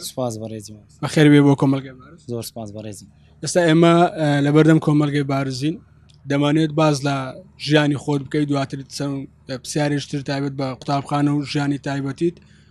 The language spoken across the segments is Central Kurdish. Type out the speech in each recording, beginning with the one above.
سپاس بەڕێزی بەخێر بێ بۆ کۆمەلگە زۆر سپاس بەڕێزی ئێستا ئێمە لە بەردەم کۆمەلگەی بارزین دەمانێت باز لە ژیانی خۆت بکەیت دواتر چەند پرسیارێشتر تایبەت بە قوتابخانە و ژیانی تایبەتیت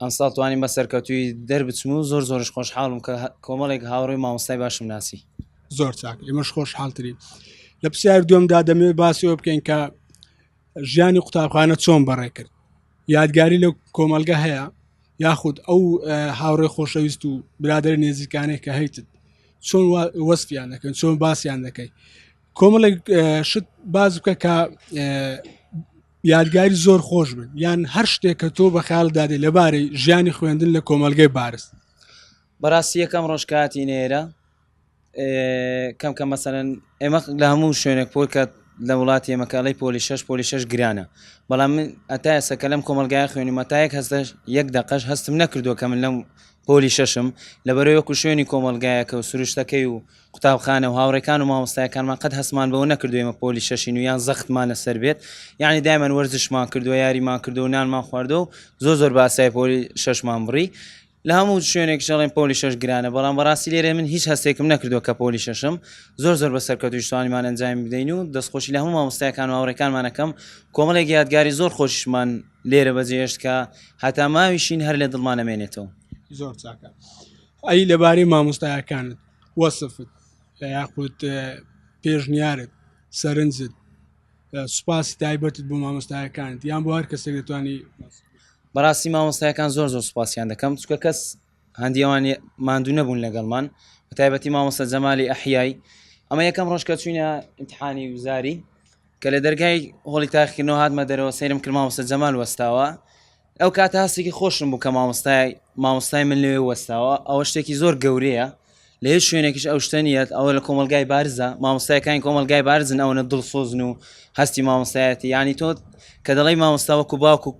ئەمساڵ توانیم بە سەرکەوتوی دەربچم و زۆر زۆرش خۆشحاڵم کە کۆمەڵێک هاوڕێ مامۆستای باشم ناسی زۆر چاک ئێمەش خۆش حاڵترین لە پرسیار دومدا دەمێ باسیەوە بکەین کە ژیانی قوتابخانە چۆن بەڕێ کرد یادگاری لە کۆمەلگە هەیە یاخود ئەو هاوڕێ خۆشەویست و برادر نێزیکانێک کە هەیتت چۆن وەستیان دەکەن چۆن باسییان دەکەی کۆمەڵێک شت باز بکە کە یادگاری زۆر خۆش بن یان هەر شتێک کە تۆ بە خیال دادێ لەبارەی ژیانی خوێندن لە کۆمەلگەی بارست بەڕاستی یەکەم ڕۆژکاتی نێرە کەم کە مەسەرەن ئێمە لە هەموو شوێنێک پۆل کە لە وڵاتی ئێمەکەڵی پۆلی شش پۆلی شش گرانە بەڵام من ئەتا ئێستا کە لەم کۆمەلگای خوێنی مەتایەک هەستە یەک دەقەش هەستم نەکردووە کە من لەم پۆلی شەشم لەبەرەوەکو شوێنی کۆمەلگایەکە و سروشتەکەی و قوتابخانە و هاوڕێکان و مامۆستایەکانمان قەت هەستمان بەوە نەکردو ئێمە پۆلی شەشین و یان زەختمان لەسەر بێت یعنی دایمەن وەرزشمان کردووە یاریمان کردو نانمان خواردو و زۆر زۆر باسای پۆلی شەشمان بڕی لە هەموو شوێنێک شەڵێن پۆلی شەش گرانە بەڵام بەڕاستی لێرێ من هیچ هەستێکم نەکردووە کە پۆلی شەشم زۆر زۆر بە سەرکەوت شتوانیمان ئەنجامی بدەین و دەستخۆشی لە هەموو مامۆستایەکان و هاوڕێکانمانەکەم کۆمەڵێک یادگاری زۆر خۆشمان لێرە بەجێهێشت کە هەتا ماویشین هەر لە دڵمان نەمێنێتەوە زۆر چاکە ئەی لەبارەی مامۆستایەکانت وەسفت یاخود پێشنیارت سەرنجت سوپاسی تایبەتت بۆ مامۆستایەکانت یان بۆ هەر کەسێک دەتوانی بەڕاستی مامۆستایەکان زۆر زۆر سوپاسیان دەکەم چکە کەس هەندیوان ماندوو نەبوون لەگەڵمان بەتایبەتی مامۆستا جەمالی ئەحیایی ئەمە یەکەم ڕۆژ کە چوینە امتحانی وزاری کە لە دەرگای هۆڵی تاخکردنەوە هاتمە دەرەوە سەیرم کرد مامۆستا جەمال وەستاوە ئەو کاتە هەستێکی خۆشم بوو کە مامۆستای مامۆستای من لەوێ وەستاوە ئەوە شتێکی زۆر گەورەیە لە هیچ شوێنێکیش ئەو شتەنیەت ئەوە لە کۆمەلگای بارزە مامۆستایەکانی کۆمەلگای بارزن ئەوەنە دڵسۆزن و هەستی مامۆستایەتی ینی تۆ کە دەڵی مامۆستاوەکو باوکو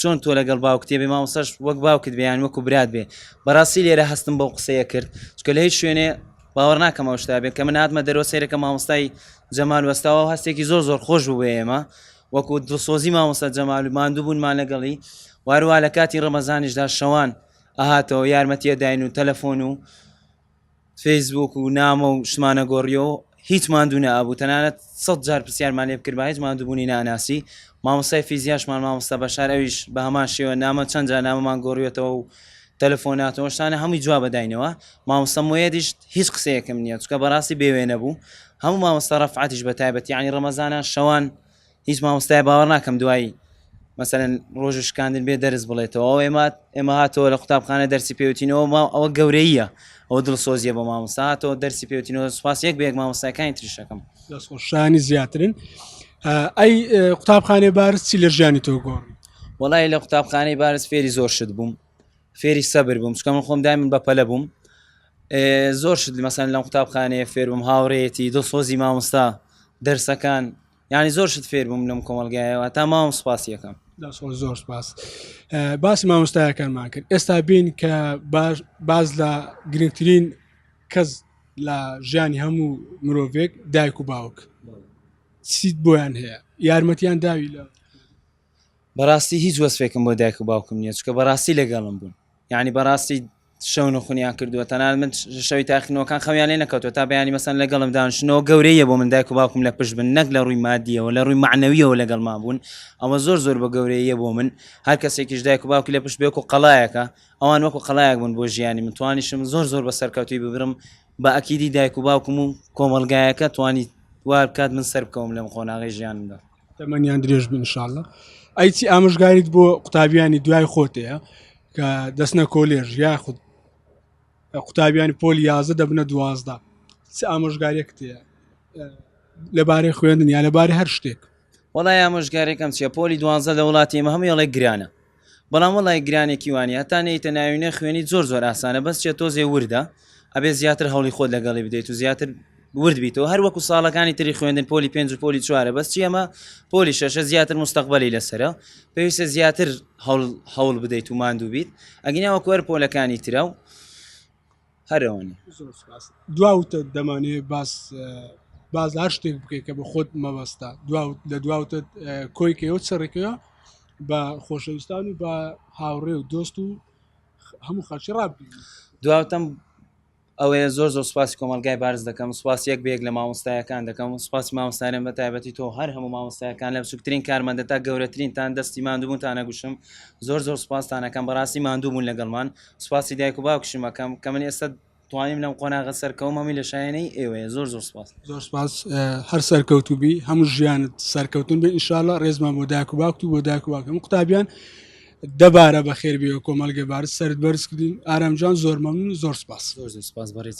چۆن تۆ لەگەڵ باوکتێ بێ مامۆستاش وەک باوکت بیان وەکو برات بێ بەڕاستی لێرە هەستم بەو قسەیە کرد چکە لە هیچ شوێنێ باوەڕ ناکەم ئەو شتا بێت کە من هاتمە دەرۆ سێرەکە مامۆستای جەمال وەستاوە هەستێکی زۆر زۆر خۆش بوو بە ئێمە وەکو دڵسۆزی مامۆستا جەمال و ماندووبوونمان لەگەڵی و هەروە لە کاتی ڕەمەزانیشدا شەوان ئەهاتەوە یارمەتیە داین و تەلەفۆن و فەیسبوک و نامە و شتمانە گۆڕیۆ هیچ ماندوو نەبوو تەنانەت سەد جار پرسیارمان لێ بکرد بە هیچ ماندووبوونی ناناسی مامۆستای فیزیاشمان مامۆستا بەشار ئەویش بە هەمان شێوە نامە چەند جار نامەمان گۆڕیێتەوە و تەلەفۆنات و ئەو شتانە هەمووی جواب داینەوە، مامۆستا موێدیش هیچ قسەیەکم نییە، چونکە بەڕاستی بێ وێنە بوو، هەموو مامۆستا ڕەفعەتیش بە تایبەت یانی ڕەمەزانە شەوان هیچ مامۆستای باوەڕ ناکەم دوایی مەسەلەن ڕۆژ و شکاندن بێ دەرس بڵێتەوە ئەو ئێمە ئێمە هاتەوە لە قوتابخانە دەرسی پێوتینەوە ما ئەوە گەورەیە ئەو دڵسۆزیە بە مامۆستا هاتەوە دەرسی پێوتینەوە سوپاس یەک بە یەک مامۆستایەکانی تریشەکەم دەستخۆشانی زیاترن ئەی قوتابخانێ بارز چی لە ژیانی تۆ گۆڕ وەڵاهی لە قوتابخانەی بارز فێری زۆر شت بووم فێری سەبر بووم چکە من خۆم دایمن بە پەلە بووم زۆر شت مەسەن لەم قوتابخانەیە فێر بووم هاوڕێتی دڵسۆزی مامۆستا دەرسەکان یعنی زۆر شت فێر بووم لەم کۆمەلگایەوە تا ماوەم سپاس یەکەم زۆر سپاس باسی مامۆستایەکانمان کرد ئێستا بین کە باز لە گرنگترین کەس لە ژیانی هەموو مرۆڤێک دایک و باوک سیت بۆیان هەیە یارمەتیان داوی لە بەراستی هیچ وەسفێکم بۆ دایک و باوکم نییە چکە بەراستی لەگەڵم بوون یعنی بەراستی شەون و خونیان کردووە تەنان من شەوی تاخنەوەکان خەویان لێ نەکەوتو تا بەیانی مەسەن لەگەڵم دانشنەوە گەورەیە بۆ من دایک و باوکم لە پشت بن نەک لە ڕووی مادیەوە لە ڕووی معنەویەوە لەگەڵما بوون ئەوە زۆر زۆر بە گەورەیە بۆ من هەر کەسێکیش دایک و باوکی لە پشت بێک و قەلایەکە ئەوان وەکو قەلایەک بوون بۆ ژیانی من توانیشم زۆر زۆر بە سەرکەوتوی ببرم بە ئەکیدی دایک و باوکم و کۆمەلگایەکە توانی وار بکات من سەر بکەوم لەم قۆناغی ژیانمدا تەمەنیان درێژ بن شاءاللە ئەی چی ئامژگاریت بۆ قوتابیانی دوای خۆتەیە کە دەستنە کۆلێژ یا خود قوتابیانی پۆل یازە دەبنە دوازدا چ ئامۆژگاریەکت هەیە لەبارەی خوێندن یا لەبارەی هەر شتێک وڵای ئامۆژگارێکم چیە پۆلی دوانزە لە وڵاتی مە هەموویڵێک گرانە بەڵام وەڵای گرانێکی وانیە هەتا نەیتە ناوی نە خوێنی زۆر زۆر ئاسانە بەس چێ تۆزێ وردە ئەبێ زیاتر هەڵی خۆت لەگەڵی بدەیت و زیاتر ورد بیتەوە هەر وەکو ساڵەکانی تری خوێندن پۆلی پێنج و پۆلی چوارە بەس چیەمە پۆلی شەشە زیاتر مستەقبلی لەسرە پێویستە زیاتر هەوڵ بدەیت و ماندوو بیت ئەگیناوە کوەر پۆلەکانی ترە و هەر ئەوەنە زۆر سپاس دواوتە دەمانێ باس باز هەر شتێک بکەیت کە بە خۆت مەبەستا دواوت لە دواوتە کۆیکەوە چڕێکەوە بە خۆشەویستان و بە هاوڕێ و دۆست و هەموو خەڵکی ڕابی دواوتەم ئەوەیە زۆر زۆر سپاسی کۆمەلگای بارز دەکەم سپاس یەک بێک لە مامۆستایەکان دەکەم سپاسی مامۆستایان بە تایبەتی تۆ هەر هەموو مامۆستایەکان لە بچووکترین کارمەندە تا گەورەترینتان دەستی ماندووبوونتانە گوشم زۆر زۆر سپاستانەکەم بەڕاستی ماندووبوون لەگەڵمان سپاسی دایک و باوکشم ئەەکەم کە من ئێستا توانیم لەم قۆناغە سەرکەوم هەمی لە شایەنەی ئێوەیە زۆر زۆر سپاس زۆر سپاس هەر سەرکەوتوبی هەموو ژیانت سەرکەوتن بێ ئیشاالله ڕێزمان بۆ داکو باکتی بۆ داکو باکەم قوتابیان دەبارە بە خێربی و کۆمەلگە بار سرد بەرزکردین ئارامجان زۆر مەمنون زۆر سپاس زۆر سپاس بەڕێز.